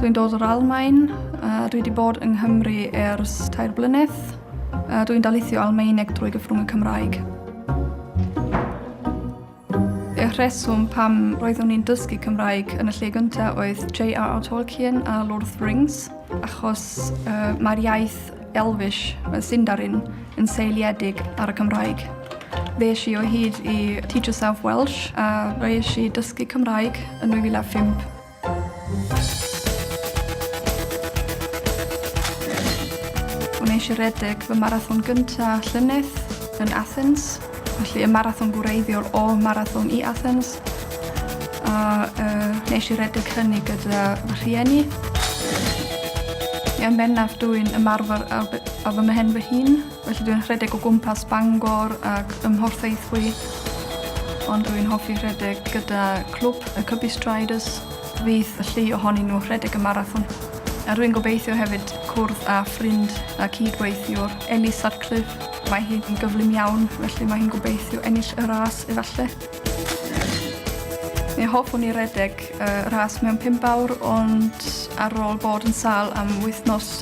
Dwi'n dod o'r Almain, a dwi wedi bod yng Nghymru ers tair blynedd. Dwi'n daleithio Almaeneg drwy gyfrwng y Cymraeg. Y rheswm pam roeddwn i'n dysgu Cymraeg yn y lle gyntaf oedd J.R.R. Tolkien a Lord of the Rings, achos uh, mae'r iaith Elfish, y Sindarin, yn seiliedig ar y Cymraeg. Ddeis i o hyd i Teach Yourself Welsh a roes i dysgu Cymraeg yn 2005. O'n i eisiau redeg fy marathon gynta llynedd yn Athens, felly y marathon gwreiddiol o marathon i Athens. A uh, nes i redeg hynny gyda fy rhieni. Yn bennaf dwi'n ymarfer ar, ar fy mhen fy hun Felly dwi'n rhedeg o gwmpas Bangor ac ym Mhorthaethwy, ond dwi'n hoffi rhedeg gyda clwb y Cybi Striders. Fydd y llu ohonyn nhw rhedeg y marathon. A rwy'n gobeithio hefyd cwrdd â ffrind a cydweithiwr, Ellie Sutcliffe. Mae hi'n gyflym iawn, felly mae hi'n gobeithio ennill y ras efallai. Mi hoffwn i redeg y ras mewn pump awr, ond ar ôl bod yn sâl am wythnos,